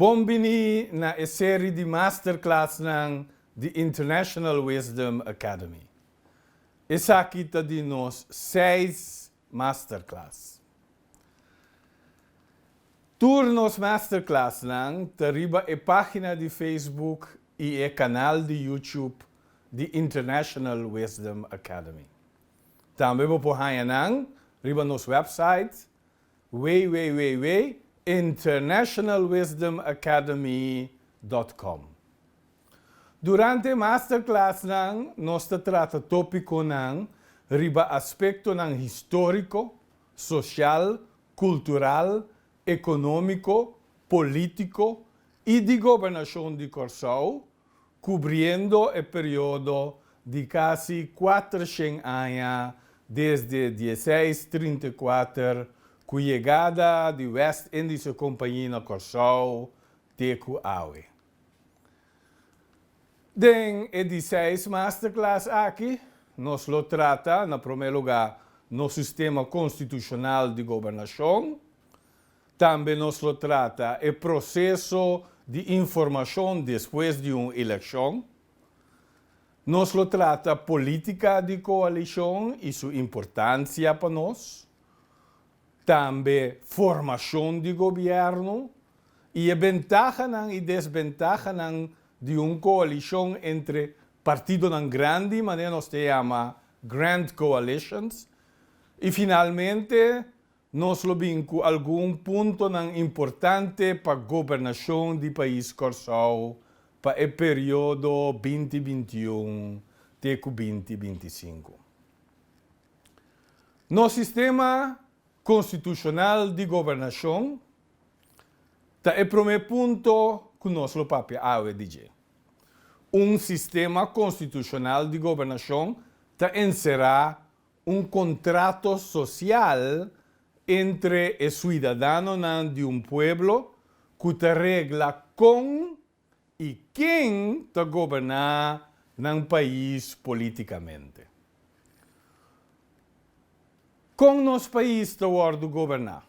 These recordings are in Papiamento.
Bon bini na e seri di masterclassnan di International Wisdom Academy. Esaki ta di nos seis Masterclass. Tur nos masterclassnan ta riba e pagina di Facebook i e canal di YouTube di International Wisdom Academy. Tambe bo por haña nan riba nos website www.internationalwisdomacademy.com. Durante e masterclassnan nos ta trata tópiconan riba aspectonan histórico, social, cultural, económico, político i di gobernacion di Kòrsou, cubriendo e periodo di casi cuater shen aña desde dieseis trinta i cuater cu yegada di West Indische Compagnie na Kòrsou te cu awe. Den e di seis masterclass aki nos lo trata na prome lugá nos sistema konstitushonal di gobernashon, tambe nos lo trata e proseso di informashon despues di un elekshon, nos lo trata polítika di koalishon i su importansia pa nos, Tambe formashon di gobièrnu i e bentahanan i desbentahanan di un koalishon entre partidonan grandi, manera nos ta yama grand coalitions. I finalmente nos lo bin ku algun puntonan importante pa gobernashon di pais Kòrsou pa e periodo binti binti un te ku binti binti sinku. Nos sistema konstitushonal di gobernashon ta e promé punto ku nos lo papia awe di dje. Un sistema konstitushonal di gobernashon ta enserá un kontrato sosial entre e suidadanonan di un pueblo ku ta regla kon i ken ta goberná nan pais polítikamente. Kon nos pais ta wòrdu goberná?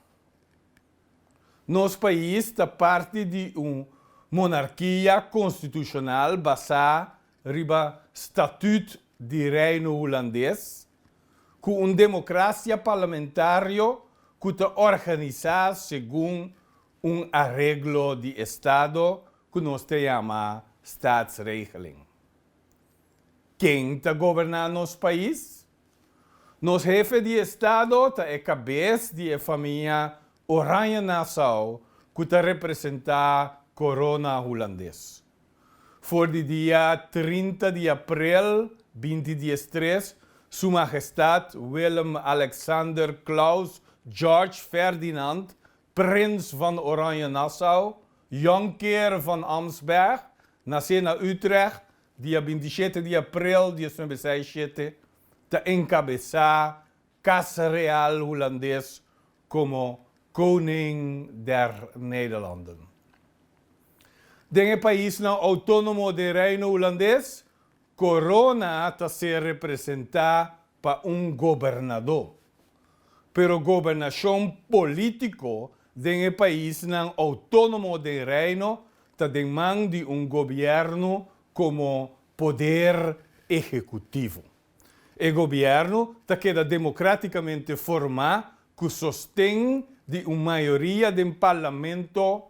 Nos pais ta parti di un monarkia konstitushonal basá riba Statuut di Reino Hulandes, ku un demokrasia parlamentario ku ta organisá segun Un areglo di estado cu nos ta yama Staatsregeling. Ken ta goberna nos pais? Nos hefe di estado ta e cabes di e famia Oranje-Nassau cu ta representa corona Hulandes. For di dia trinta di aprel binti dies tres Su Magestad Willem-Alexander Claus George Ferdinand Prins van Oranje-Nassau, Jonker van Amsberg, nasé na Utrecht, dia bintisiete di aprel diesnan i besai i shete, ta enkabesá Kas Real Hulandes komo Koning der Nederlanden. Den e paisnan outónomo den Reino Hulandes, Corona ta ser representá pa un gobernadó, pero gobernashon polítiko den e paisnan outónomo den Reino ta den man di un gobièrnu komo poder ehekutivo. E gobièrnu ta keda demokratikamente formá ku sosten di un mayoria den parlamento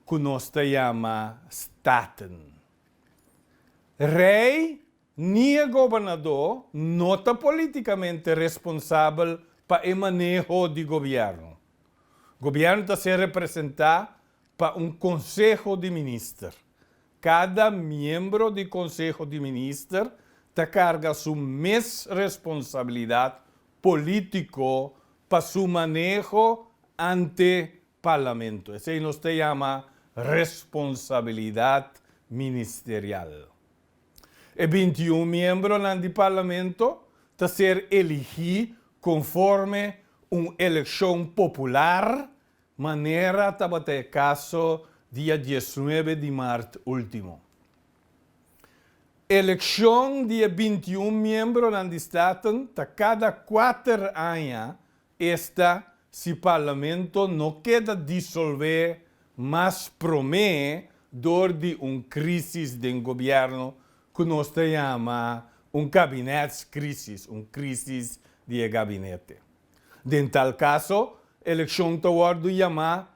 ku nos ta yama Staten. Rey ni e gobernadó no ta políticamente responsabel pa e maneho di gobièrnu. Gobièrnu ta ser representá pa un konseho di minister. Kada miembro di konseho di minister ta karga su mes responsabilidat polítiko pa su maneho ante Parlamento. Esei nos ta yama responsabilidat ministerial. E binti un miembronan di Parlamento ta ser eligí konforme un elekshon popular, manera tabata e kaso dia diesnuebe di mart último. Elekshon di e binti un miembronan di Staten ta kada kuater aña Esta si parlamento no keda disolvé mas promé dor di un krísis den gobièrnu ku nos ta yama un kabinètskrísis, un krísis di e gabinete. Den tal kaso, elekshon ta wòrdu yamá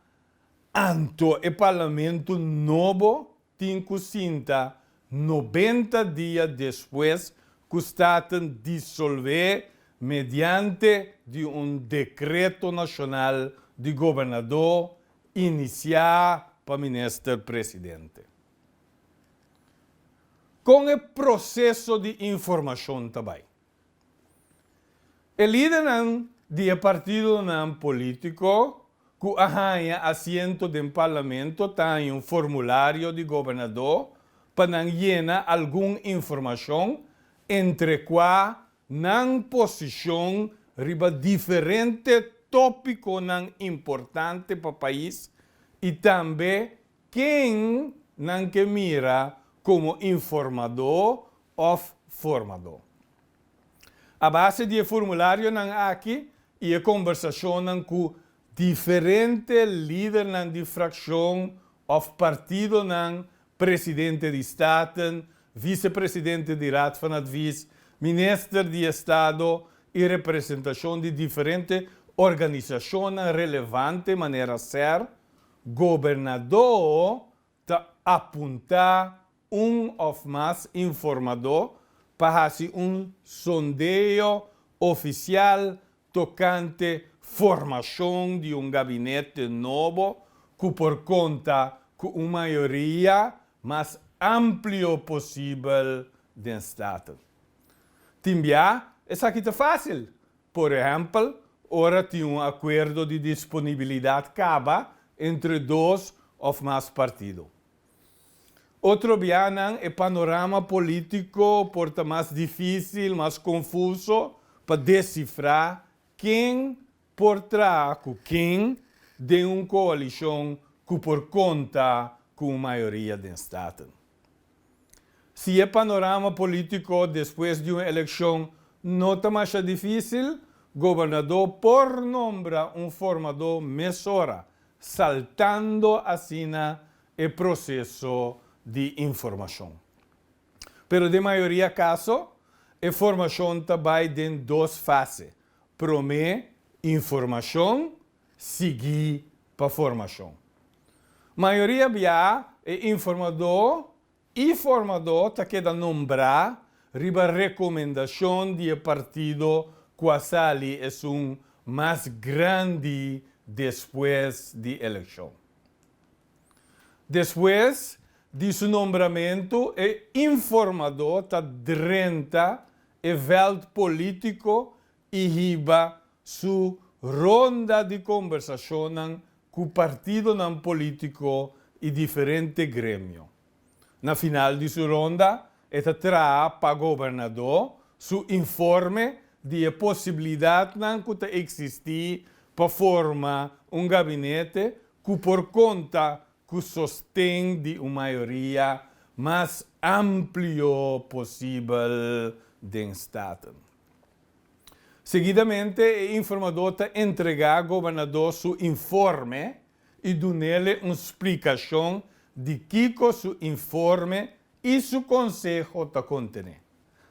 anto e parlamento nobo Tin cu sinta nobenta dia despues cu staten disolve mediante di un decreto nacional di gobernador inicia pa minister presidente. Con e proceso di informacion ta bay? E lidernan di e partidonan polítiko ku a haña asiento den parlamento ta haña un formulario di gobernadó pa nan yena algun informashon entre kua nan posishon riba diferente tópikonan importante pa pais i tambe Ken nan ke mira komo informadó òf formadó? A base di e formularionan aki i e kombersashonnan ku diferente lidernan di frakshon òf partidonan, presidente di Staten, visepresidente di Raad van Advies, minister di Estado i representashon di diferente organisashonnan relevante manera ser, Gobernadó ta apuntá un òf mas informadó pa hasi un sondeo ofisial tokante formashon di un gabinete nobo ku por konta ku un mayoria mas amplio posibel den Staten. Tin bia esaki ta fásil Por ehèmpel, ora tin un akuerdo di disponibilidat kaba entre dos òf mas partido. Otro bianan e panorama polítiko por ta mas difísil, mas konfuso pa desifrá ken por traha ku ken den un koalishon ku por konta ku un mayoria den Staten. Si e panorama político despues di un eleccion no ta masha difícil, gobernador por nombra un formador mesora, saltando asina e proceso di informacion. Pero den mayoria caso, e formacion ta bay den dos fase, prome informacion sigui pa formashon. Mayoria biaha e informadó i formadó ta keda nombrá riba rekomendashon di e partido ku a sali esun mas grandi despues di elekshon. Despues di su nombramentu e informadó ta drenta e vèlt polítiko i hiba su ronda di kombersashonnan ku partidonan polítiko i diferente gremio. Na final di su ronda e ta traha pa gobernadó su informe di e posibilidatnan ku ta eksistí pa forma un gabinete ku por konta ku sosten di un mayoria mas amplio posibel den Staten. Seguidamente e informadó ta entregá gobernadó su informe i dun'el'e un splikashon di kiko su informe i su konseho ta kontené.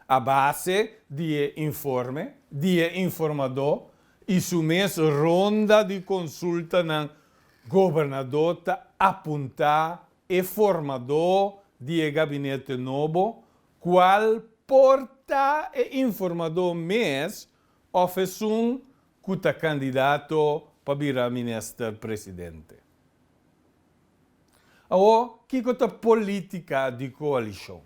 A base di e informe di e informadó i su mes ronda di konsultanan, gobernadó ta apuntá e formadó di e gabinete nobo Cual por ta e informadó mes of esun cu ta candidato pa bira minister presidente? Awor, kico ta politica di coalicion?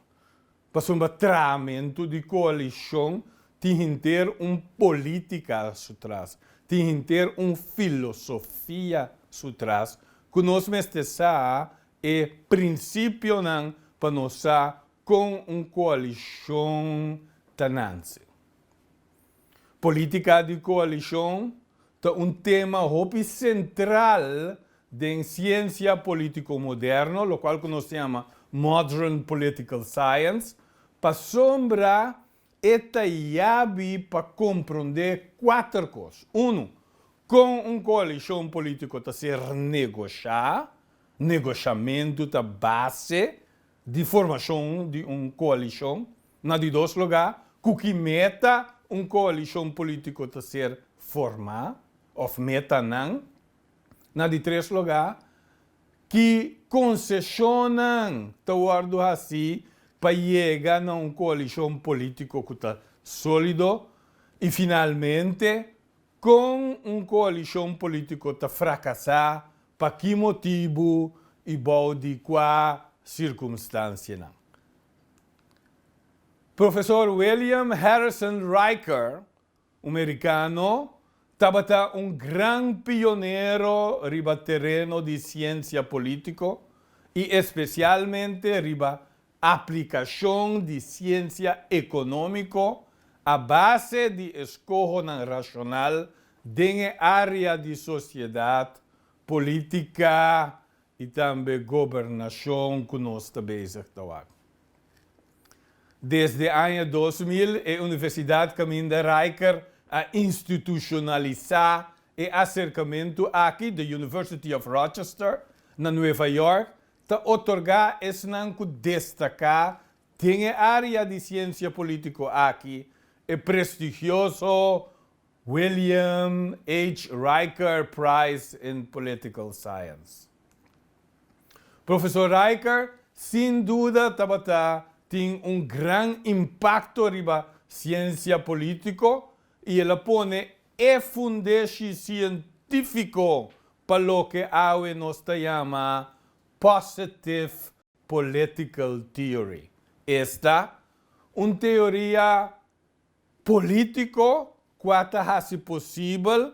Pasobra trahamento di coalicion tin henter un politica su tras, tin henter un filosofia su tras cu nos mester sa E principionan pa nos sa con un coalicion ta nanse. Politica di coalicion ta un tema hopi central den ciencia politico moderno, locual cu nos ta yama Modern Political Science, pasobra E ta yabi pa komprondé kuater kos. Unu, kon un koalishon polítiko ta ser negoshá, negoshamentu ta base di formashon di un koalishon. Na di dos lugá, ku ki meta un koalishon polítiko ta ser formá òf metanan. Na di tres lugá, Ki konseshonnan ta wòrdu hasí pa yega na un koalishon polítiko ku ta sólido? I finalmente, kon un koalishon polítiko ta frakasá, pa ki motibu i bou di kua sirkunstansianan? Profesor William Harrison Riker Un merikano tabata un gran pionero riba tereno di siensia polítiko i espesialmente riba aplikashon di siensia ekonómiko a base di eskohonan rashonal den e área di sosiedat, polítika i tambe gobernashon ku nos ta bezig ta wak. Desde aña dos mil e Universidad Caminda Rijker a institushonalisá e aserkamentu aki di University of Rochester na Nueva York ta otorgá esnan ku destaká den e área di siensia polítiko aki e prestigioso William H. Riker Prize in Political Science. Profesor Riker sin duda tabata tin un gran impakto riba siensia polítiko i el a pone e fundeshi sientífiko pa loke awe nos ta yama Positive Political Theory. Esta un teoria Polítiko ku a ta hasi posibel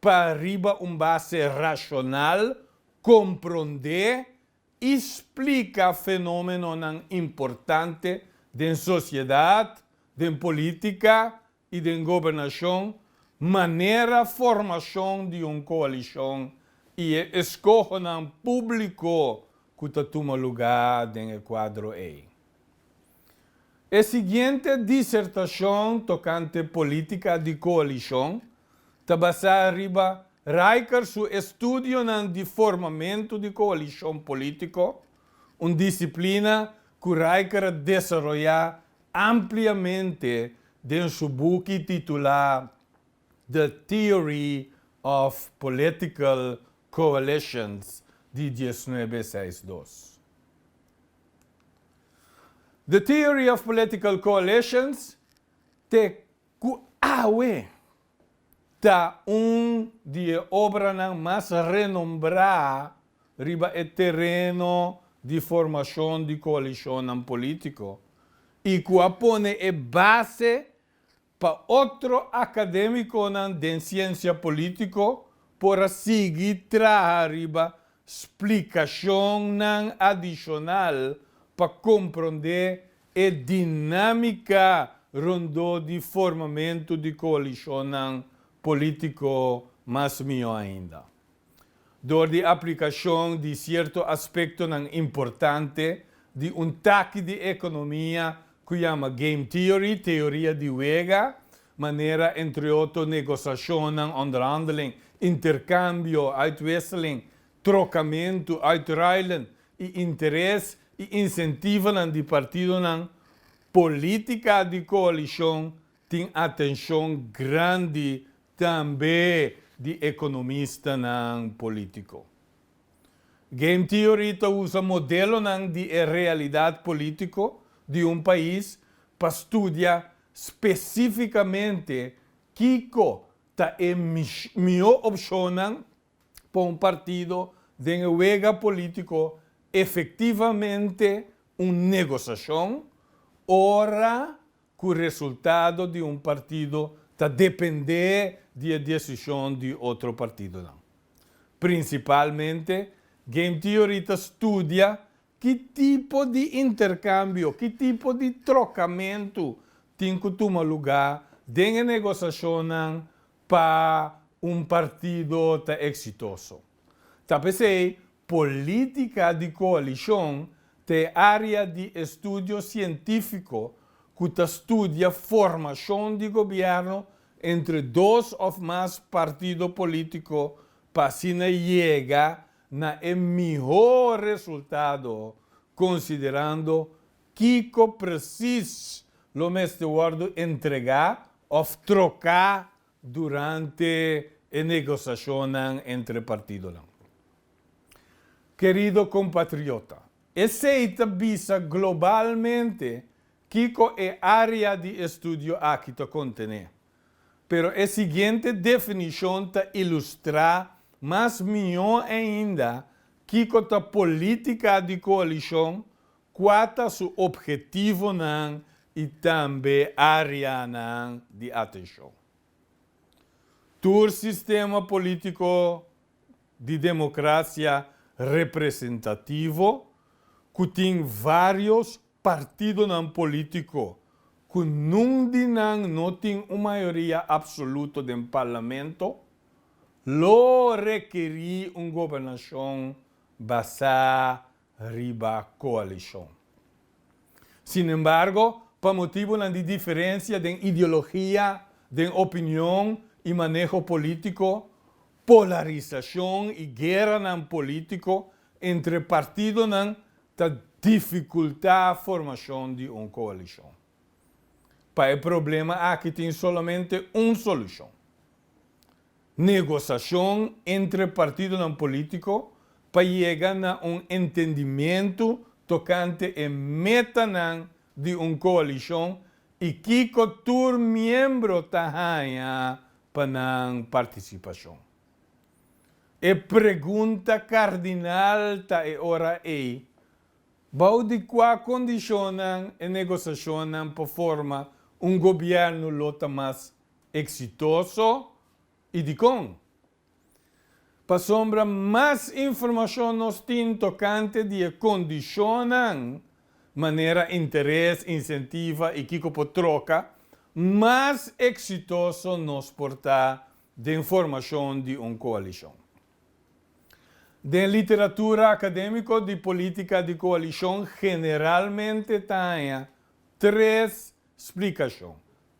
pa riba un base rashonal komprondé i splika fenómenonan importante den sosiedat, den polítika i den gobernashon, manera formashon di un koalishon i e eskohonan públiko ku ta tuma lugá den e kuadro ei. E siguiente disertacion tocante politica di coalicion ta basa riba Riker su estudionan di formamento di coalicion politico, un disciplina cu Riker a desaroya ampliamente den su buki titula The Theory of Political Coalitions di diesnuebe seis dos. The Theory of Political Coalitions, te ku awe ta un di e obranan mas renombrá riba e tereno di formashon di koalishonnan polítiko i ku a pone e base Pa otro akademiconan den ciencia politico por a sigui traha riba splicacionnan adicional pa comprende e dinamica rondó di formamento di coalicionnan politico mas mihó ainda. Dor di aplikashon di sierto aspektonan importante di un taki di ekonomia ku yama game theory, teoria di wega, manera entre otro negosashonnan, onderhandeling, interkambio, uitwisseling, trokamentu, uitruilen, i interes i insentivonan di partidonan, politika di koalishon Tin atencion grandi tambe di economistanan politico. Game theory ta usa modelonan di e realidad politico di un pais pa studia specificamente kico ta e mihó opcionnan pa un partido den e wega politico efectivamente un negociacion ora ku resultado di un partido ta dependé di e desishon di otro partidonan. Prinsipalmente, game theory ta studia ki tipo di interkambio, ki tipo di trokamentu tin ku tuma lugá den e negosashonnan pa un partido ta eksitoso. Ta p'esei polítika di koalishon ta e área di estudio sientífiko ku ta studia formashon di gobièrnu entre dos òf mas partido polítiko pa asina yega na e mihó resultado konsiderando kiko presis lo mester wòrdu entregá òf troká durante e negosashonnan entre partidonan. Kerido kompatriota, esei ta bisa globalmente kiko e área di estudio aki ta kontené, pero e siguiente definishon ta ilustrá mas mihó ainda kiko ta polítika di koalishon Kua ta su ophetivonan i tambe áreanan di atenshon? Tur sistema polítiko di demokrasia representativo ku tin vários partidonan polítiko ku nun di nan no tin un mayoria apsoluto den parlamento lo rekerí un gobernashon basá riba koalishon. Sinembargo, pa motibunan di diferensia den ideologia, den opinion i maneho polítiko, polarisashon i gueranan polítiko entre partidonan ta difikultá formashon di un koalishon. Pa e problema aki tin solamente un solushon. Negosashon entre partidonan polítiko pa yega na un entendimentu tokante e metanan di un koalishon i kiko tur miembro ta haña pa nan partisipashon. E pregunta kardinal ta e ora ei, Bou di kua kondishonnan e negosashonnan pa forma un gobièrnu lo ta mas Exitoso y dicon? Pasobra mas informacion nos tin tocante di e condicionnan, manera interes, incentiva y kico por troca, mas exitoso nos por ta den formacion di un coalicion. Den literatura academico di politica di coalicion generalmente ta haña tres splicacion,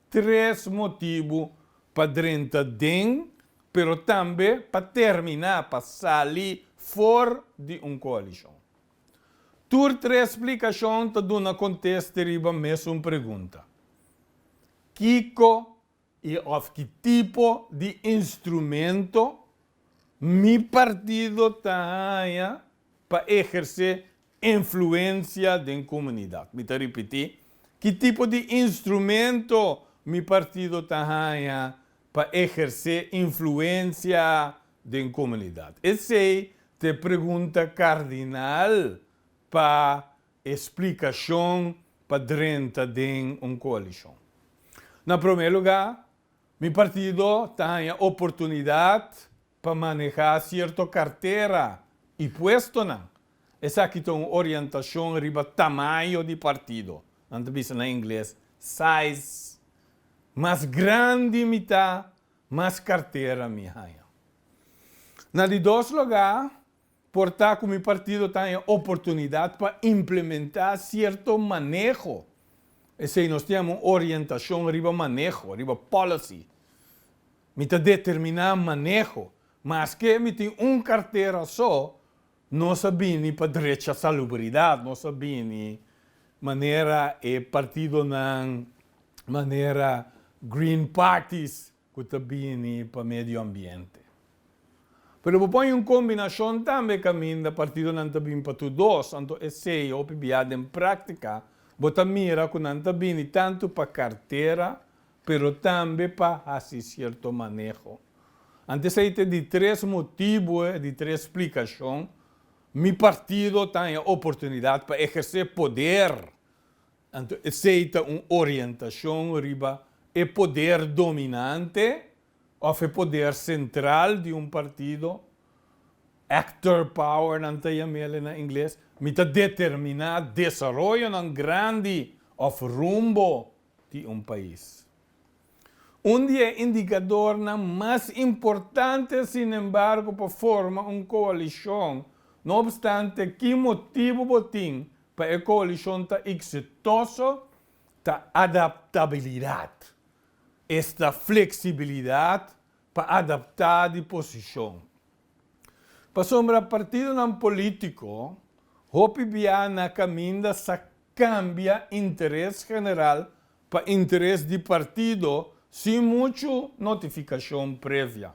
Tres motibu pa drenta den pero tambe pa termina, pa sali for di un coalicion. Tur tres splicacion ta duna contes te riba mesun pregunta, kico y of ki tipo di instrumento mi partido ta haya pa eherce Influencia den comunidad. Mi ta ripití, ki tipo di instrumento mi partido ta haña pa ehercé influencia den comunidad? Esei ta e pregunta cardinal pa e splicacion pa drenta den un coalicion. Na promé lugá, mi partido ta haña oportunidad pa manehá sierto kartera i puestonan. Esaki ta un orientashon riba tamayo di partido, nan ta bisa na ingles size. Mas grandi mi ta, mas kartera mi haña. Na di dos lugá Por ta cu mi partido ta en oportunidad pa implementa cierto maneho, esey nos tin amo orientacion riba maneho, riba policy. Mi ta determina maneho, maske mi tin un cartera so, nos a bini pa drecha salubridad, nos a bini manera e partidonan, manera green parties cu ta bini pa medio ambiente. Pero bo pon un combinacion tambe caminda partidonan ta bin pa tur dos, anto esey hopi biaha den practica bo ta mira cu nan ta bini tanto pa cartera pero tambe pa haci cierto maneho. Ante esey ta e di tres motibo e di tres splicacion mi partido ta haña oportunidad pa eherce poder. Anto esei ta un orientashon riba e poder dominante òf e poder sentral di un partido, actor power nan ta yam'el na ingles, mi ta determiná desaroyonan grandi òf rumbo di un pais. Un di e indikadornan mas importante sinembargo pa forma un koalishon, no opstante ki motibu bo tin pa e coalicion ta exitoso ta adaptabilidad, esta flexibilidad pa adapta di posicion. Pasobra partidonan politico hopi bia na caminda sa cambia interes general pa interes di partido sin mucho notificacion previa.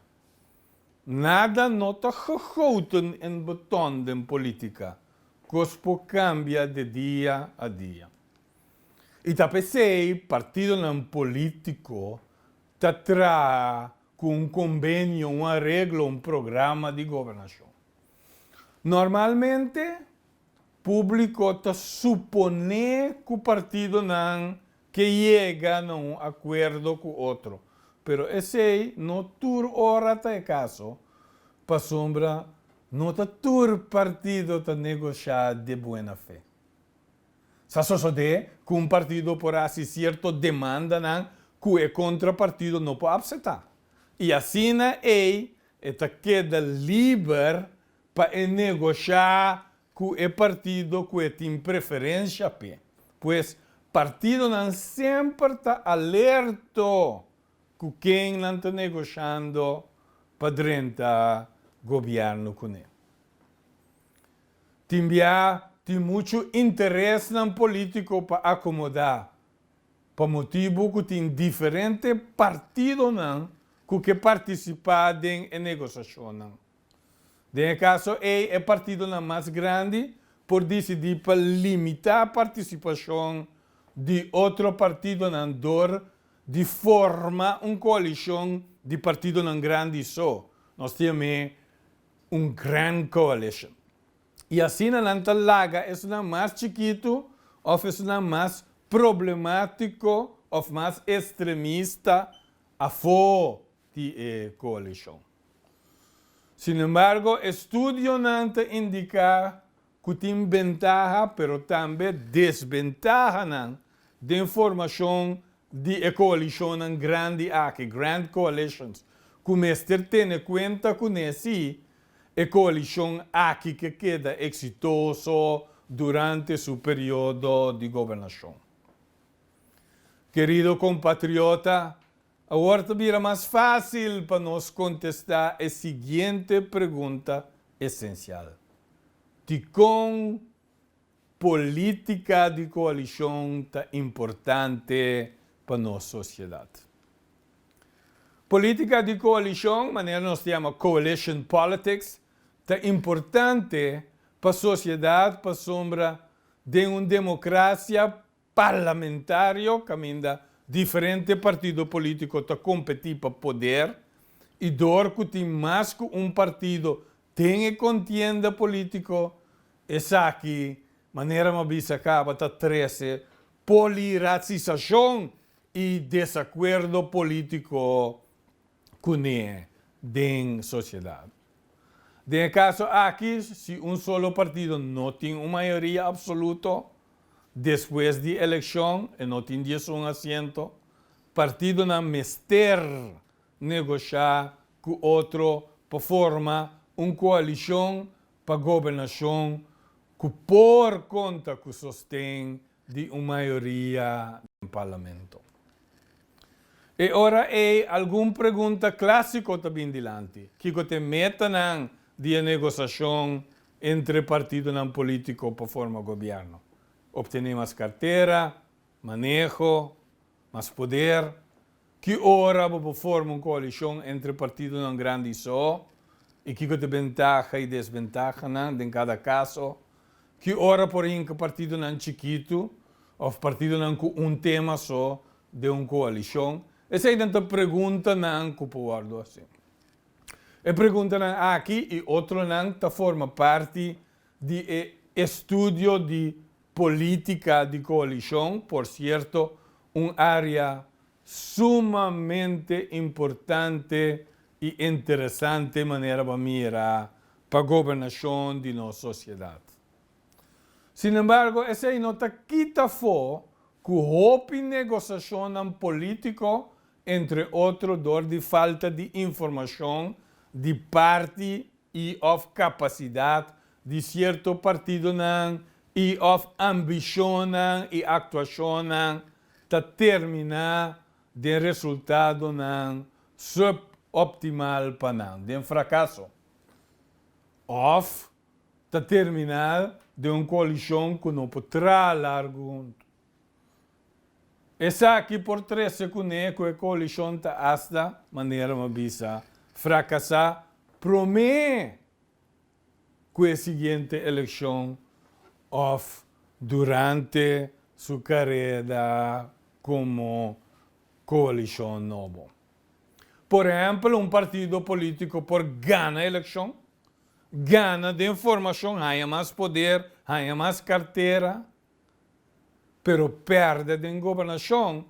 Nada no ta gegoten in beton den politica, cos por cambia de dia a dia. Y ta pesey partidonan politico ta traha cu un conbenio, un areglo, un programa di gobernacion. Normalmente publico ta supone cu partidonan ke yega na un akuerdo ku otro, pero esei no tur ora ta e kaso, pasobra no ta tur partido ta negosha de buena fe. Sa sosodé ku un partido por hasi sierto demandanan ku e kontrapartido no por apsetá, i asina ei e ta keda liber pa e negosha cu e partido cu e tin preferencia p'e. Pues, partidonan semper ta alerto cu ken nan ta negociando pa drenta gobierno cu nan. Tin bia tin muchu interesnan politico pa acomoda, pa motibu cu tin diferente partidonan cu ke participa den e negociacionnan. Den e kaso ei e partidonan mas grandi por disidí pa limitá partisipashon di otro partidonan dor di forma un koalishon di partidonan grandi so, nos ta yam'é un grand coalition, i asina nan ta laga esunnan mas chikitu òf esunnan mas problemátiko òf mas estremista afó di e koalishon. Sinembargo, estudionan ta indiká ku tin bentaha pero tambe desbentahanan den formashon di e koalishonnan grandi aki, grand coalitions, ku mester tene kuenta kuné si e koalishon aki ke keda eksitoso durante su periodo di gobernashon. Kerido kompatriota, Awor ta bira mas fásil pa nos kontestá e siguiente pregunta esensial, Dikon polítika di koalishon ta importante pa nos sosiedat? Polítika di koalishon, manera nos ta yama coalition politics, ta importante pa sosiedat pasobra den un demokrasia Parlamentario caminda diferente partido politico ta competi pa poder y door cu tin mas cu un partido den e contienda politico, esaki manera m'a bisa caba ta trece poliracisacion y desacuerdo politico kuné den sosiedat. Den e kaso aki, si un solo partido no tin un mayoria apsoluto despues di elekshon, e no tin diesun asiento, partidonan mester negosha ku otro pa forma un koalishon pa gobernashon ku por konta ku sosten di un mayoria den Parlamento. E ora ei algun pregunta clásico ta bin dilanti, kico ta e metanan di e negociacion entre e partidonan politico pa forma gobierno? Obtene mas cartera, maneho, mas poder? Ki ora bo por forma un koalishon entre partidonan grandi so i kiko ta e bentaha i desbentahanan den kada kaso? Ki ora por hinka partidonan chikitu òf partidonan ku un tema so den un koalishon? Eseinan ta preguntanan ku por wòrdu hasi. E preguntanan aki i otronan ta forma parti di e estudio di politica di coalicion, por cierto un area sumamente importante y interesante manera bo a mira pa gobernacion di nos sociedad. Sin embargo esey no ta kita fo cu hopi negociacionnan politico entre otro door di falta di informacion di parti y of capacidad di cierto partidonan y of ambicionnan y actuacionnan ta termina den resultadonan suboptimal pa nan, den fracaso, of ta termina den un coalicion cu no por traha largu hunto. Esaki por trece cu nee cu e coalicion ta hasta, manera m'a bisa, fracasa prome cu e siguiente eleccion of durante su careda como coalicion nobo. Por ehempel un partido politico por gana eleccion, gana den formacion, haya mas poder, haya mas cartera, pero perde den gobernacion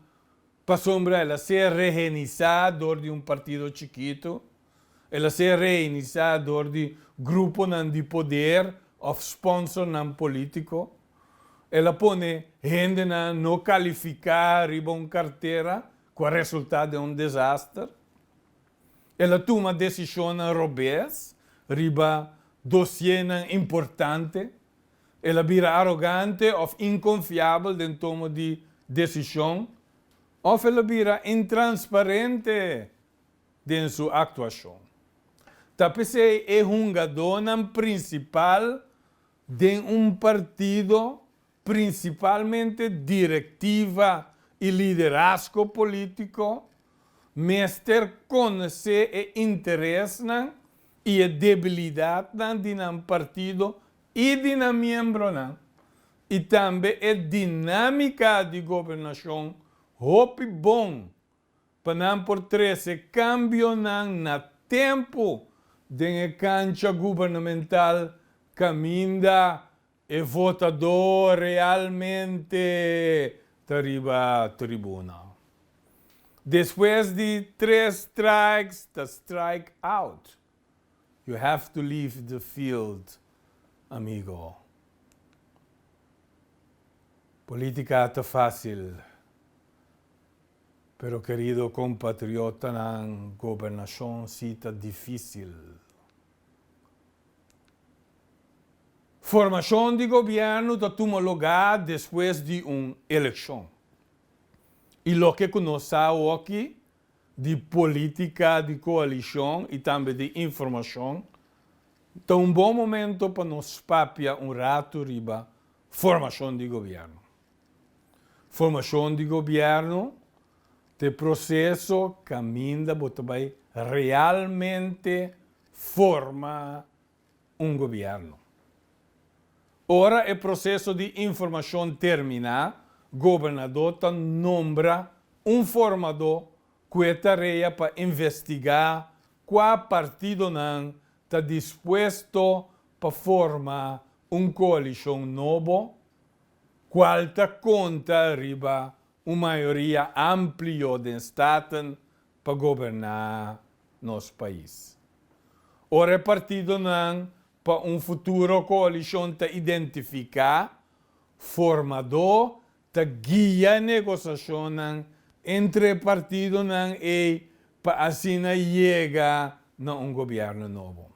pasobra el a ser rehenisa door di un partido chikito, el a ser rehenisa door di gruponan di poder of sponsornan politico, el a pone hendenan no califica riba un cartera cu a resulta den un desaster, el a tuma decisionnan robez riba dosiernan importante. El a bira arogante òf inkonfiabel den tomo di desishon òf el a bira intransparente den su aktuashon. Ta p'esei e hungadónan prinsipal den un partido, prinsipalmente direktiva i liderasko polítiko, mester konosé e interesnan i e debilidatnan di nan partido i di nan miembronan, i tambe e dinámika di gobernashon hopi bon pa nan por trese kambionan na tempu den e kancha gubernamental kaminda E votadó realmente ta riba tribunal. Despues di tres strikes ta strike out. You have to leave the field amigo. Política ta fácil pero querido compatriotanan gobernacion sí ta difícil. Formacion di gobierno ta tuma loga despues di un eleccion y loke cu nos sa awoki di politica di coalicion y tambe di informacion ta un bon momento pa nos papia un rato riba formacion di gobierno. Formacion di gobierno ta e proceso caminda bo ta bay realmente forma un gobièrnu. Ora e proseso di informashon terminá, gobernadó ta nombra un formadó ku e tarea pa investigá kua partidonan ta dispuesto pa forma un koalishon nobo, kual ta konta riba un mayoria amplio den staten pa goberná nos pais. Ora e partidonan pa un futuro koalishon ta identifiká, formadó ta guia negosashonnan entre e partidonan ei pa asina yega na un gobièrnu nobo.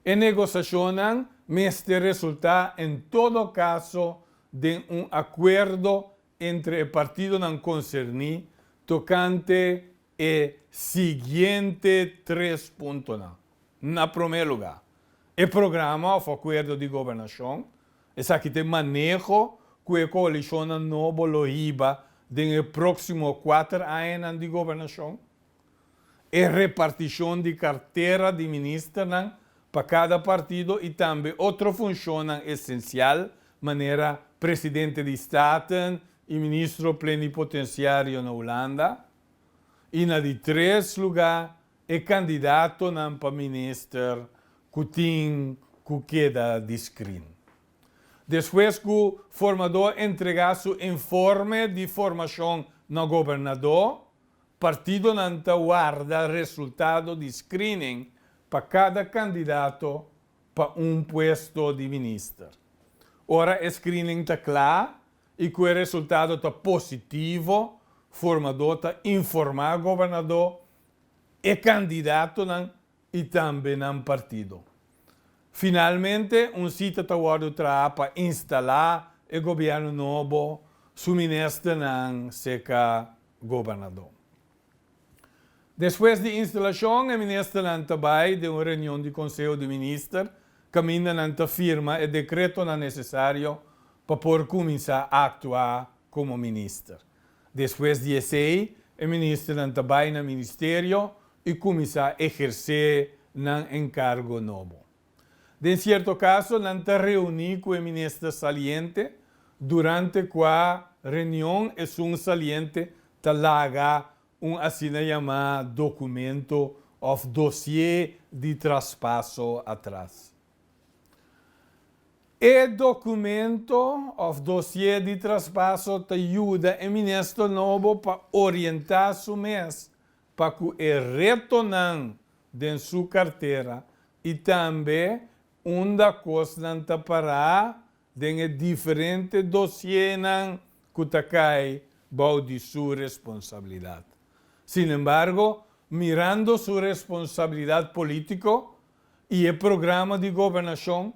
E negosashonnan mester resultá en todo kaso den un akuerdo entre e partidonan concerni tocante e siguiente tres puntonan. Na prome lugar, e programa of acuerdo di gobernacion, esaki ta e maneho cu e coalicionnan nobo lo hiba den e proximo cuater añanan di gobernacion. e repartishon di kartera di ministernan pa kada partido i tambe otro funshonnan esensial manera Presidente di Staten i Ministro Plenipotensiario na Hulanda i na di tres lugá e kandidatonan pa minister ku tin ku keda di skrin. Despues ku Formadó entregá su informe di formashon na gobernadó, Partidonan ta warda resultado di screening pa cada candidato pa un puesto di minister. Ora e screening ta cla y cu e resultado ta positivo, formador ta informa gobernador e candidatonan i tambe nan partido. Finalmente un sita ta wòrdu traha pa instalá e gobièrnu nobo su ministernan seka gobernadó. Despues di instalashon e ministernan ta bai den un reunion di Konseho di Minister kaminda nan ta firma e dekretonan nesesario pa por kuminsá aktuá komo minister. Despues di esei, e ministernan ta bai na ministerio i kuminsá ehersé nan enkargo nobo. Den sierto kaso, nan ta reuní ku e minister saliente durante kua reunion esun saliente ta laga un asina yamá dokumento òf dosié di traspaso atras. E dokumento òf dosié di traspaso ta yuda e minister nobo pa orientá su mes pa ku e retonan den su kartera i tambe unda kosnan ta pará den e diferente dosienan ku ta kai bou di su responsabilidat. Sinembargo, mirando su responsabilidat polítiko, y e programa di gobernacion,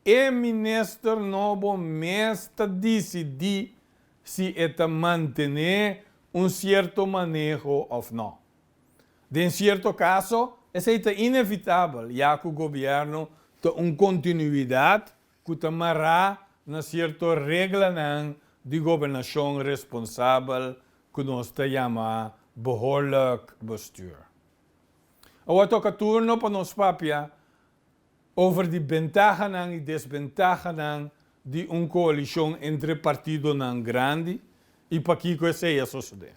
e minister nobo mes ta dicidi si e ta mantene un cierto maneho of no. Den cierto caso, esey ta inevitabel ya cu gobierno ta un continuidad cu ta mara na cierto reglanan di gobernacion responsabel cu nos ta yama behoorlijk bestuur. Awa toca turno pa nos papia over di bentahanan y desbentahanan di un coalicion entre partidonan grandi y pakico esey a sosode.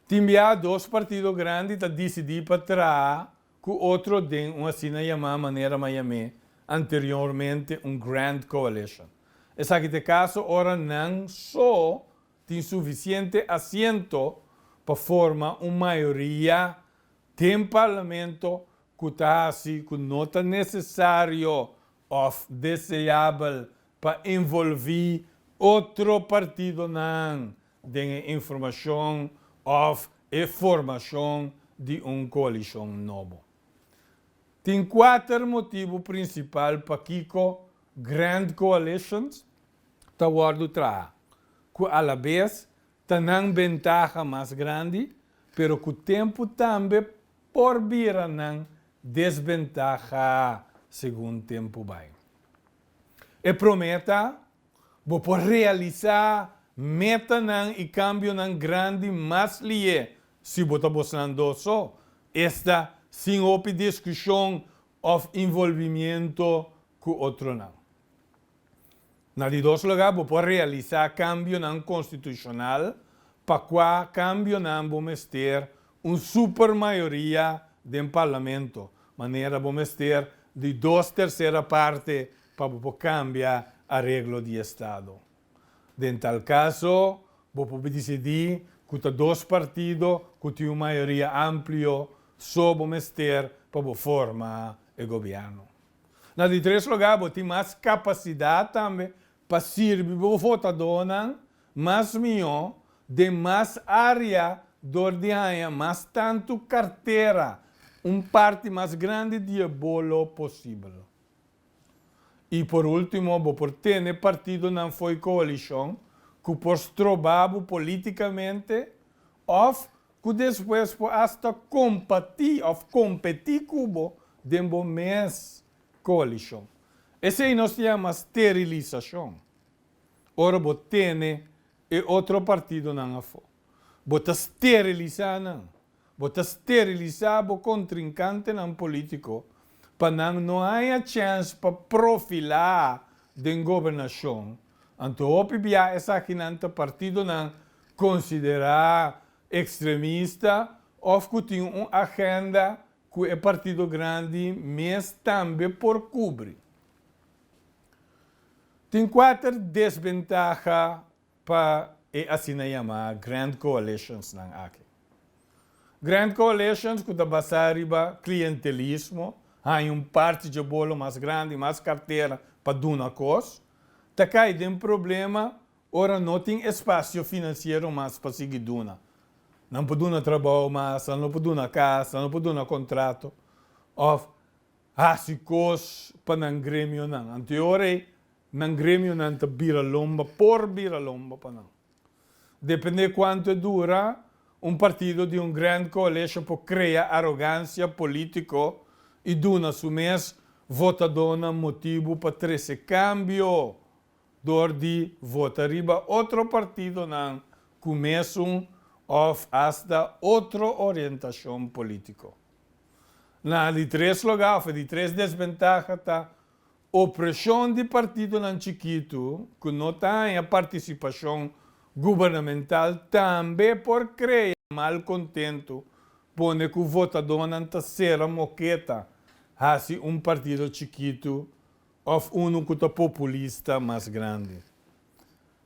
Tin bia dos partido grandi ta dicidi pa traha cu otro den un asina yama manera Miami, anteriormente un grand coalition. Esaki ta e caso ora nan so Tin sufisiente asiento pa forma un mayoria den parlamento cu ta haci cu no ta necesario of deseabel pa envolvi otro partidonan den e informacion of e formacion di un coalicion nobo. Tin cuater motibu principal pakico grand coalitions ta wòrdu traha, ku alabes ta nan bentaha mas grandi, pero ku tempu tambe por bira nan desbentaha segun tempu bai. E promé ta, bo por realisá metanan i kambionan grandi mas lié si bo ta bosnan dos so, esta sin hopi diskushon òf involvimiento ku otronan. Na di dos lugá bo por realisá kambionan konstitushonal pa kua kambionan bo mester un supermayoria den parlamento, manera bo mester di dos tersera parte pa bo por kambia areglo di estado. Den tal kaso, bo por disidí ku ta dos partido ku tin un mayoria amplio so bo mester pa bo forma e gobièrnu. Na di tres lugá bo tin mas kapasidat tambe pa sirbi bo votadónan mas mihó den mas área dor di haña mas tantu kartera un parti mas grandi di e bolo posibel. I por último bo por tene partidonan fo'i koalishon ku por stroba bo polítikamente òf ku despues por asta kompatí òf kompetí ku bo den bo mes koalishon. Esei nos ta yama sterilisashon. Ora bo tene e otro partidonan afó, bo ta sterilisá nan, bo ta sterilisá bo kontrinkantenan polítiko pa nan no haña chèns pa profilá den gobernashon, Anto hopi biaha esakinan ta partidonan konsiderá ekstremista òf ku tin un agenda ku e partido grandi mes tambe por kubri. Tin kuater desbentaha pa e asina yamá grand coalitionsnan aki. Grand coalitions ku ta basá riba klientelismo, haña un parti dje bolo mas grandi, mas kartera pa duna kos, ta kai den problema ora no tin espasio finansiero mas pa sigui duna. Nan por duna trabou mas, nan lo por duna kas, nan lo por duna kontrato òf hasi kos pa nan gremionan. Anto e ora ei nan gremionan ta bira lomba, por bira lomba pa nan. Depende cuanto e dura, un partido di un grand coalition por crea arogancia politico y duna su mes votadornan motibu pa trece cambio door di vota riba otro partidonan cu mesun of hasta otro orientacion politico. Na di tres loga of di tres desventaha ta Opreshon di partidonan chikitu ku no ta haña partisipashon gubernamental tambe por krea malkontentu, pone ku votadónan ta sera moketa hasi un partido chikitu òf unu ku ta populista mas grandi.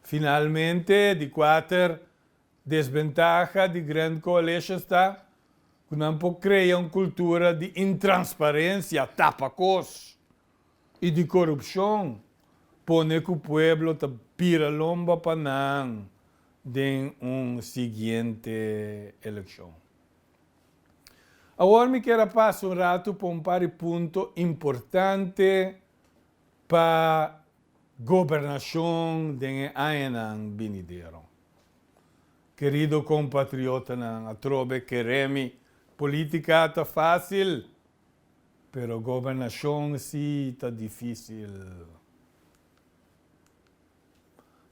Finalmente, di kuater, Desbentaha di Grand Coalition ta cu nan por crea un cultura di intransparencia, tapa cos, y di corupcion, pone cu pueblo ta bira lomba pa nan den un siguiente eleccion. Awor mi kier a pasa un ratu pa un par di punto importante pa. Gobernashon den e añanan binidero. Kerido kompatriotanan, atrobe keré mi, polítika ta fásil, pero gobernashon sí ta difísil.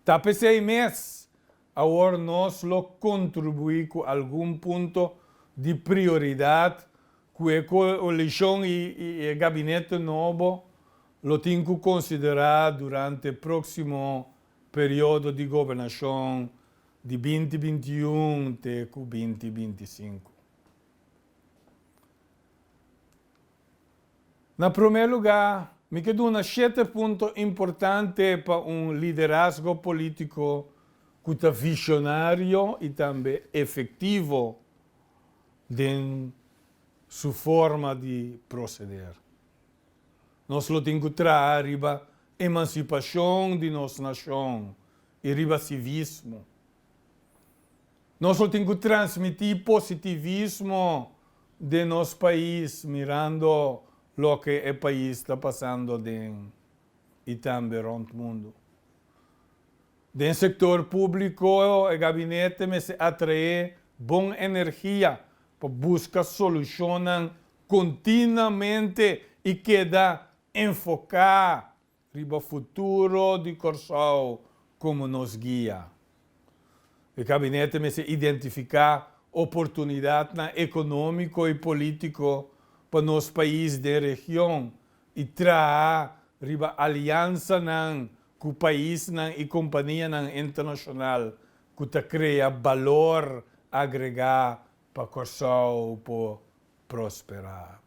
Ta p'esei mes, awor nos lo kontribuí ku algun punto di prioridat ku e koalishon i e gabineto nobo lo tin cu considera durante proximo periodo di gobernacion di binti binti un te cu binti binti sinku. Na prome lugar, mi ke duna shete punto importante pa un liderazgo politico cu ta visionario y tambe efectivo den su forma di proceder. Nos lo tin ku traha riba emansipashon di nos nashon i riba sivismo. Nos lo tin ku transmití positivismo den nos pais mirando loke e pais ta pasando den i tambe rònt mundu. Den sektor públiko e gabinete mester atraé bon energia pa buska solushonnan kontinuamente i keda enfoká riba futuro di Kòrsou komo nos guia. E gabinete mester identifiká oportunidatnan ekonómiko i polítiko pa nos pais den region i traha riba aliansanan ku paisnan i kompanianan internashonal ku ta krea balor agregá pa Kòrsou por prosperá.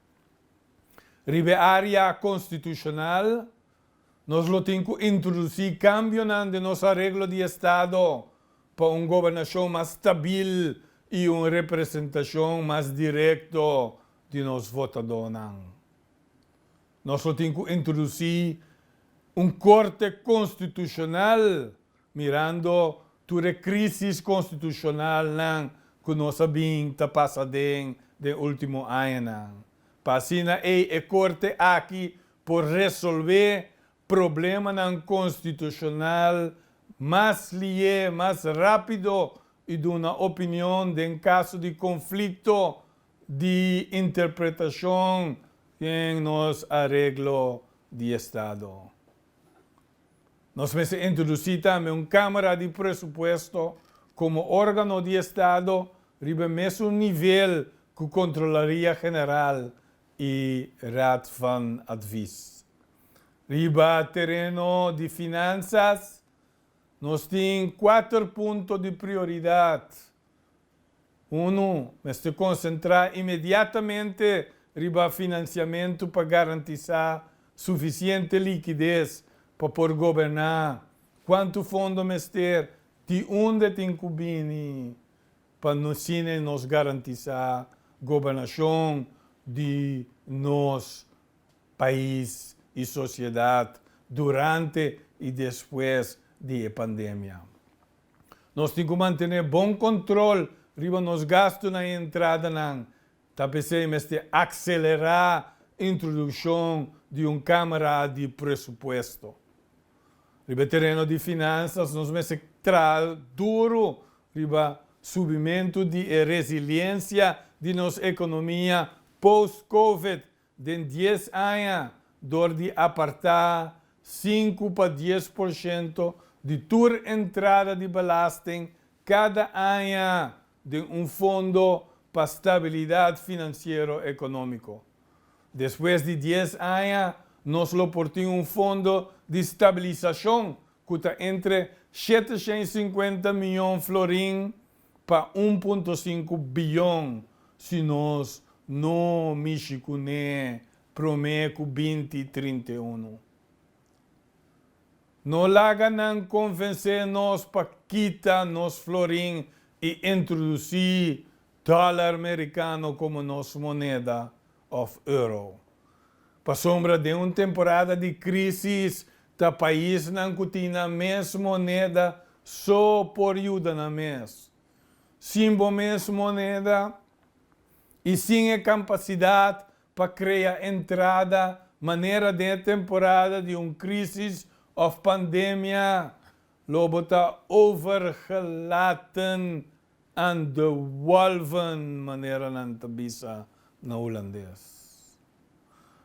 Riba e área konstitushonal, nos lo tin ku introdusí kambionan den nos areglo di estado pa un gobernashon mas stabil i un representashon mas direkto di nos votadónan. Nos lo tin cu introduci un Corte Constitucional mirando tur e crisis constitucionalnan cu nos a bin ta pasa den den ultimo añanan pa asina ei e Corte aki por resolve problemanan constitucional mas liye, mas rapido y duna opinion den caso di conflicto di interpretacion den nos areglo di estado. Nos mester introduci tambe un Camara di Presupuesto como organo di estado riba mesun nivel cu Controlaria General y Raad van Advies. Riba tereno di Finansas nos tin cuater punto di prioridad Unu mester konsentrá inmediatamente riba finansiamentu pa garantisá sufisiente likides pa por goberná kuantu fondo mester, di unda tin ku bini pa nos siña i nos garantisá gobernashon di nos pais i sosiedat durante i despues di e pandemia. Nos tin ku mantené bon kontrol riba nos gastu na e entradanan, ta p'esei mester akselerá introdukshon di un kámara di presupuesto. Riba e tereno di finansas nos mester traha duru riba subimentu di e resiliensia di nos ekonomia post-Covid Den dies aña, dor di apartá sinku pa dies por shento di tur entrada di belasting kada aña den un fondo pa stabilidat finansiero ekonómiko. Despues di dies aña, nos lo por tin un fondo di stabilisashon ku ta entre shete shen i sinkuenta mion florin pa un punto sinku biyon si nos no mishi kuné promé ku binti trinta i unu. No laga nan konvensé nos pa kita nos florin i introdusí dòlar merikano komo nos moneda òf euro. Pasobra den un temporada di krísis ta paisnan ku tin nan mes moneda so por yuda nan mes. Sin bo mes moneda i sin e kampasidat pa krea entrada manera den e temporada di un krísis òf pandemia, lo bo ta overgelaten En de wolven manera nan ta bisa na hulandes.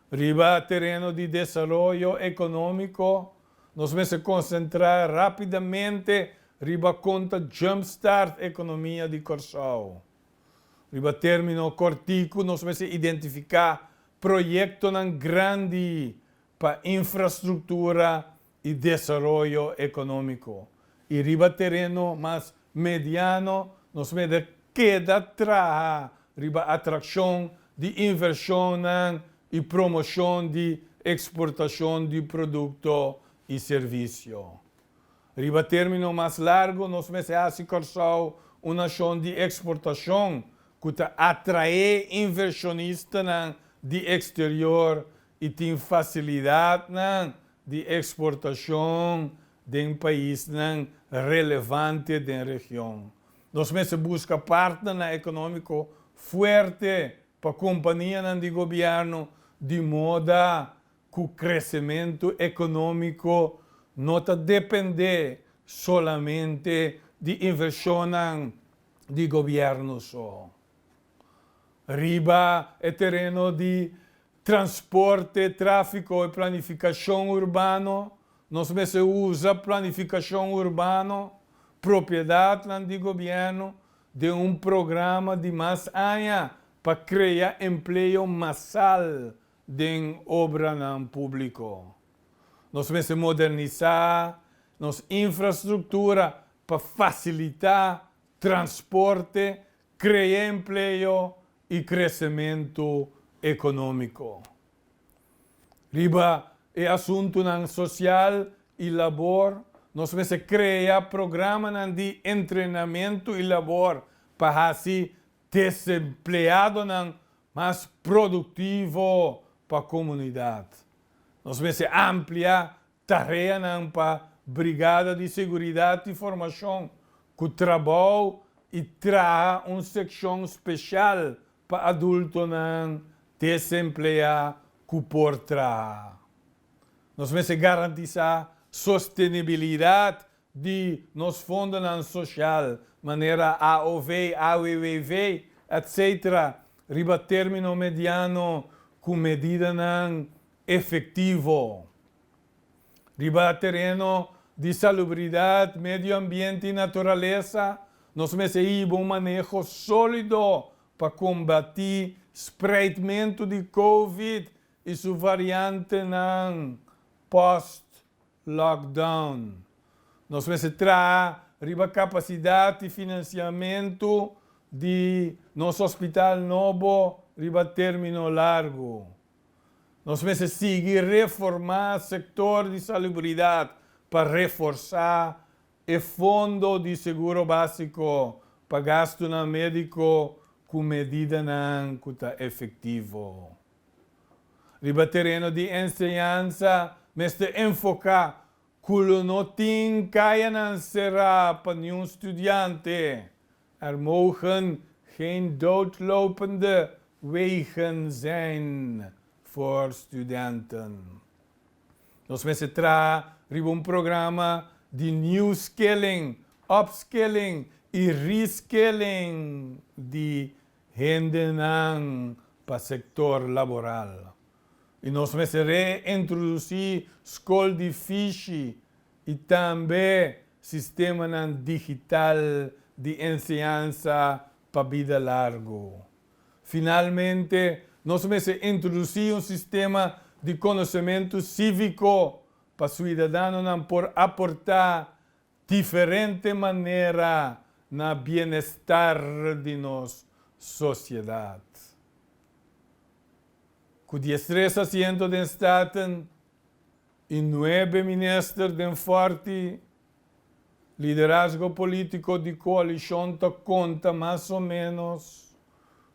Riba tereno di desaroyo economico nos mester concentra rapidamente riba con ta jumpstart economia di Corsou. Riba termino corticu nos mester identifica proyectonan grandi pa infrastructura i desaroyo ekonómiko, i riba tereno mas mediano nos mester keda traha riba atrakshon di invershonnan i promoshon di eksportashon di produkto i servisio. Riba término mas largu nos mester hasi Kòrsou un nashon di eksportashon ku ta atraé invershonistanan di eksterior y tin facilidadnan di exportacion den paisnan relevante den region. Nos mester busca partnernan economico fuerte pa companianan di gobierno di moda cu crecemento economico no ta depende solamente di inversionnan di gobierno so. Riba e tereno di Transporte, Tráfiko i Planifikashon Urbano, Nos mester usa planifikashon urbano, propiedatnan di gobièrnu, den un programa di mas aña pa krea empleo masal den obranan públiko. Nos mester modernisá nos infrastruktura pa fasilitá transporte, krea empleo i kresementu ekonómiko. Riba e asuntunan sosial i labor nos mester krea programanan di entrenamentu i labor pa hasi desempleadonan mas produktivo pa komunidat. Nos mester ampliá tareanan pa Brigada di Seguridat i Formashon ku trabou i traha un sekshon speshal pa adultonan desempleá ku por traha. Nos mester garantisá sostenibilidat di nos fondonan soshal, manera AOV, AWW, etc. Riba término mediano ku medidanan efectivo. Riba tereno di salubridad, medio ambiente y naturalesa, nos mester hiba un maneho solido pa combati spreidmento di covid y su variantenan post lockdown. Nos mester traha riba capacidad y financiamento di nos hospital nobo riba termino largo. Nos mester sigui reformá sektor di salubridat pa reforsá e fondo di seguro básiko pa gastunan médiko ku medidanan ku ta efektivo. Riba tereno di enseñansa mester enfoká ku lo no tin kayanan será pa niun studiante Er mogen geen doodlopende wegen zijn voor studenten. Nos mester traha riba un programa di new skilling, upskilling i reskilling di hendenan pa sector laboral. I nos mester reintroduci skol di fishi i tambe sistemanan digital di enseñansa pa bida largu. Finalmente, nos mester introducí un sistema di konosementu síviko pa suidadanonan por aportá diferente manera na bienestar di nos sosiedat. Ku diestresa siento den Staten. E nuebe minister den forti liderazgo politico di coalicion ta conta mas o menos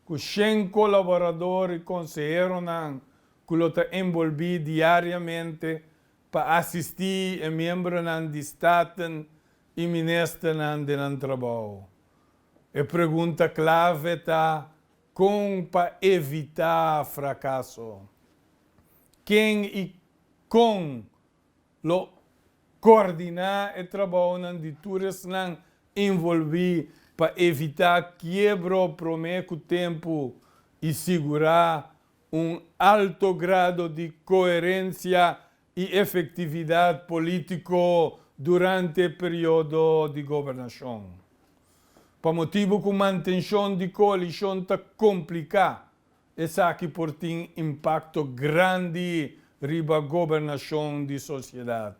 cu shen colaborador y conseheronan cu lo ta envolbi diariamente pa asisti e miembronan di staten y ministernan den nan trabao. E pregunta clave ta con pa evita fracaso? Ken y Con lo coordiná e trabaonan di tur esnan involví pa evitá kiebro promé cu tempu y sigurá un alto grado di coherencia y efectividad politico durante e periodo di gobernacion? Pa motibu cu mantencion di coalicion ta complicá Esaki por tin impakto grandi riba gobernashon di sosiedat.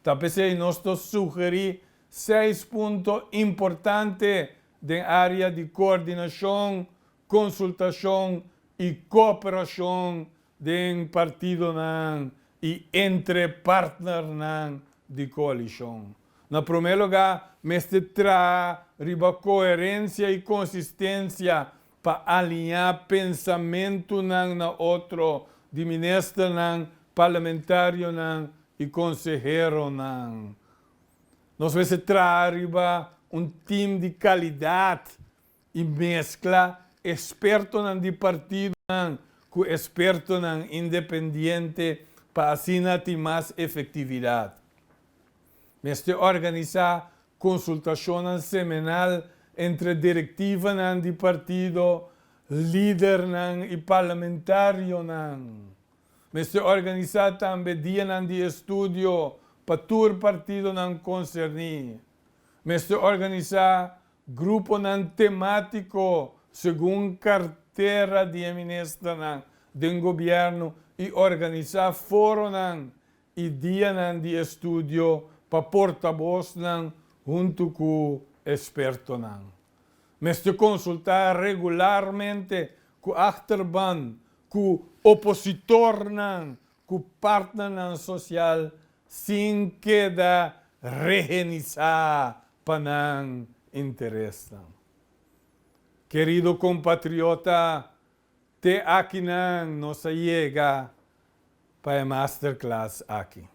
Ta p'esei nos ta sugerí seis punto importante den área di koordinashon, konsultashon i kooperashon den partidonan i entre partnernan di koalishon. Na promé lugá, mester traha riba koherensia i konsistensia pa aliñá pensamentunan na otro di ministernan, parlamentarionan i konseheronan. Nos mester traha riba un tim di kalidat i meskla ekspertonan di partidonan ku ekspertonan independiente pa asina tin mas efektividat. Mester organisá konsultashonnan semenal entre direktivanan di partido, lidernan i parlamentarionan. Mester organisá tambe dianan di estudio pa tur partidonan konserní. Mester organisá gruponan temátiko segun kartera di e ministernan den gobièrnu i organisá foronan i dianan di estudio pa portabosnan huntu ku ekspertonan. Mester konsultá regularmente ku achterban, ku opositornan, ku partnernan sosial sin keda rehenisá pa nan interesnan. Kerido kompatriota, Te akinan nos a yega pa e masterclass aki.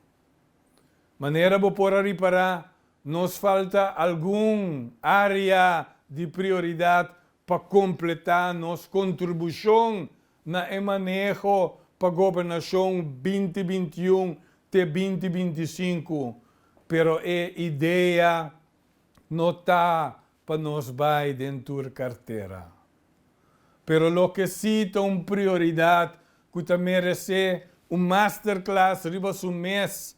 Manera bo por a ripará, nos falta algun área di prioridat pa kompletá nos kontribushon na e maneho pa Gobernashon binti binti i un te binti binti i sinku, pero e idea no ta pa nos bai den tur kartera. Pero loke si ta un prioridat ku ta meresé un masterclass riba su mes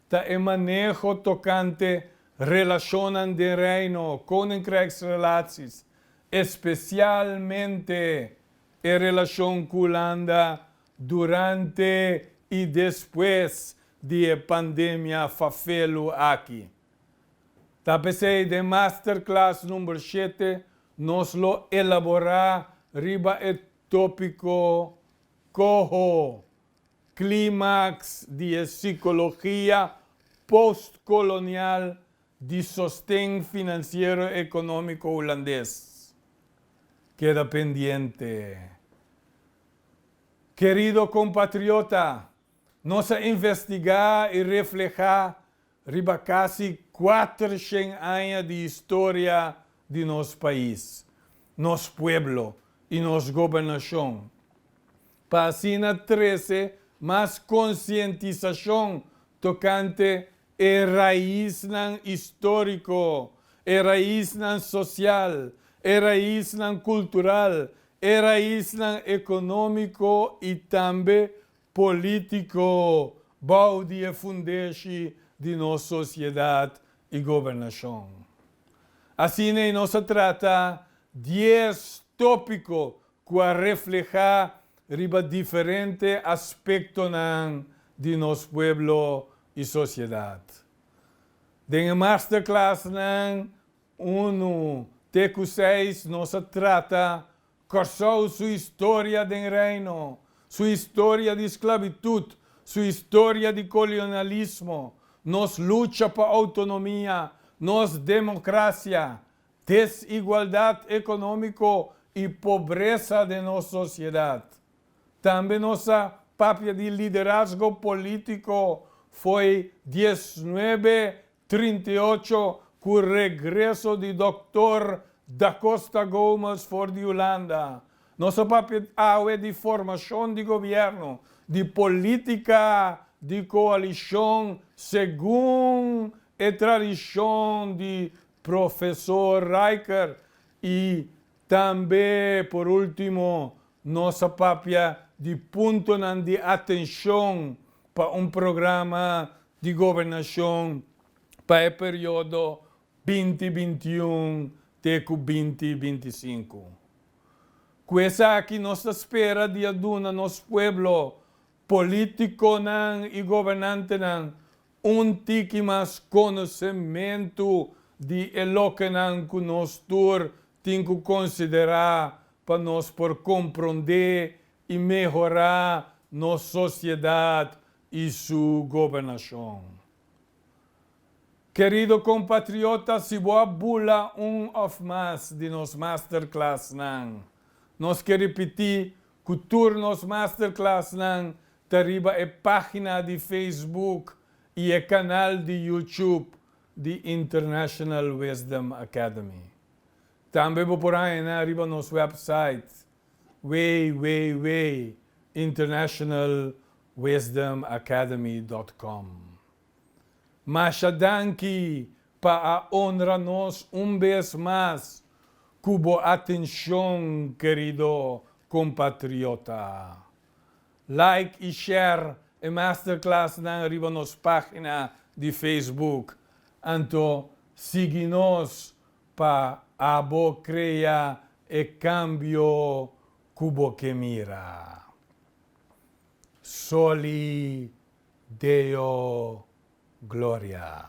ta e maneho tokante relashonnan den Reino, Koninkrèksrelaties, espesialmente e relashon ku Hulanda durante i despues di e pandemia fafelu aki. Ta p'esei den Masterclass number shete nos lo elaborá riba e tópiko Koho, Klímaks di e Sikologia Postkolonial di Sosten Finansiero Ekonómiko Hulandes. Keda pendiente, kerido kompatriota! Nos a investigá i reflehá riba kasi kuater shen aña di historia di nos pais, nos pueblo i nos gobernashon, pa asina trese mas konsientisashon tokante e raisnan istóriko, e raisnan sosial, e raisnan kultural, e raisnan ekonómiko i tambe Polítiko bou di e fundeshi di nos sosiedat i gobernashon. Asina e nos a trata dies tópiko ku a reflehá riba diferente aspektonan di nos pueblo i sosiedat. Den e masterklasnan unu te ku seis nos a trata Kòrsou su historia den Reino, su historia di sklabitut, su historia di kolonialismo, nos lucha pa outonomia, nos demokrasia, desigualdat ekonómiko i pobresa den nos sosiedat. Tambe nos a papia di liderazgo polítiko fo'i diesnuebe trinta i ocho cu regreso di Doctor Da Costa Gomes for di Hulanda. Nos a papia awe di formacion di gobierno, di politica di coalicion segun e tradicion di Professor Rijker y Tambe, por ultimo, nos a papia di puntonan di atencion pa un programa di gobernacion pa e periodo binti binti un te cu binti binti sinku. Cu esaki nos ta spera di a duna nos pueblo, politiconan y gobernantenan Un tiki mas konosementu di e lokenan ku nos tur tin ku konsiderá pa nos por komprondé i mehorá nos sosiedat i su gobernashon. Kerido kompatriota, si bo a bula un òf mas di nos masterklasnan, nos ke ripití ku tur nos masterklasnan ta riba e página di Facebook i e kanal di YouTube di International Wisdom Academy. Tambe bo por hañanan riba nos wèpsait www.internationalwisdomacademy.com. Masha danki pa a onra nos un bes mas ku bo atenshon kerido kompatriota. Like y share e masterclassnan riba nos pagina di Facebook. Anto sigui nos pa abo crea e cambio cu bo ke mira. Soli Deo Gloria.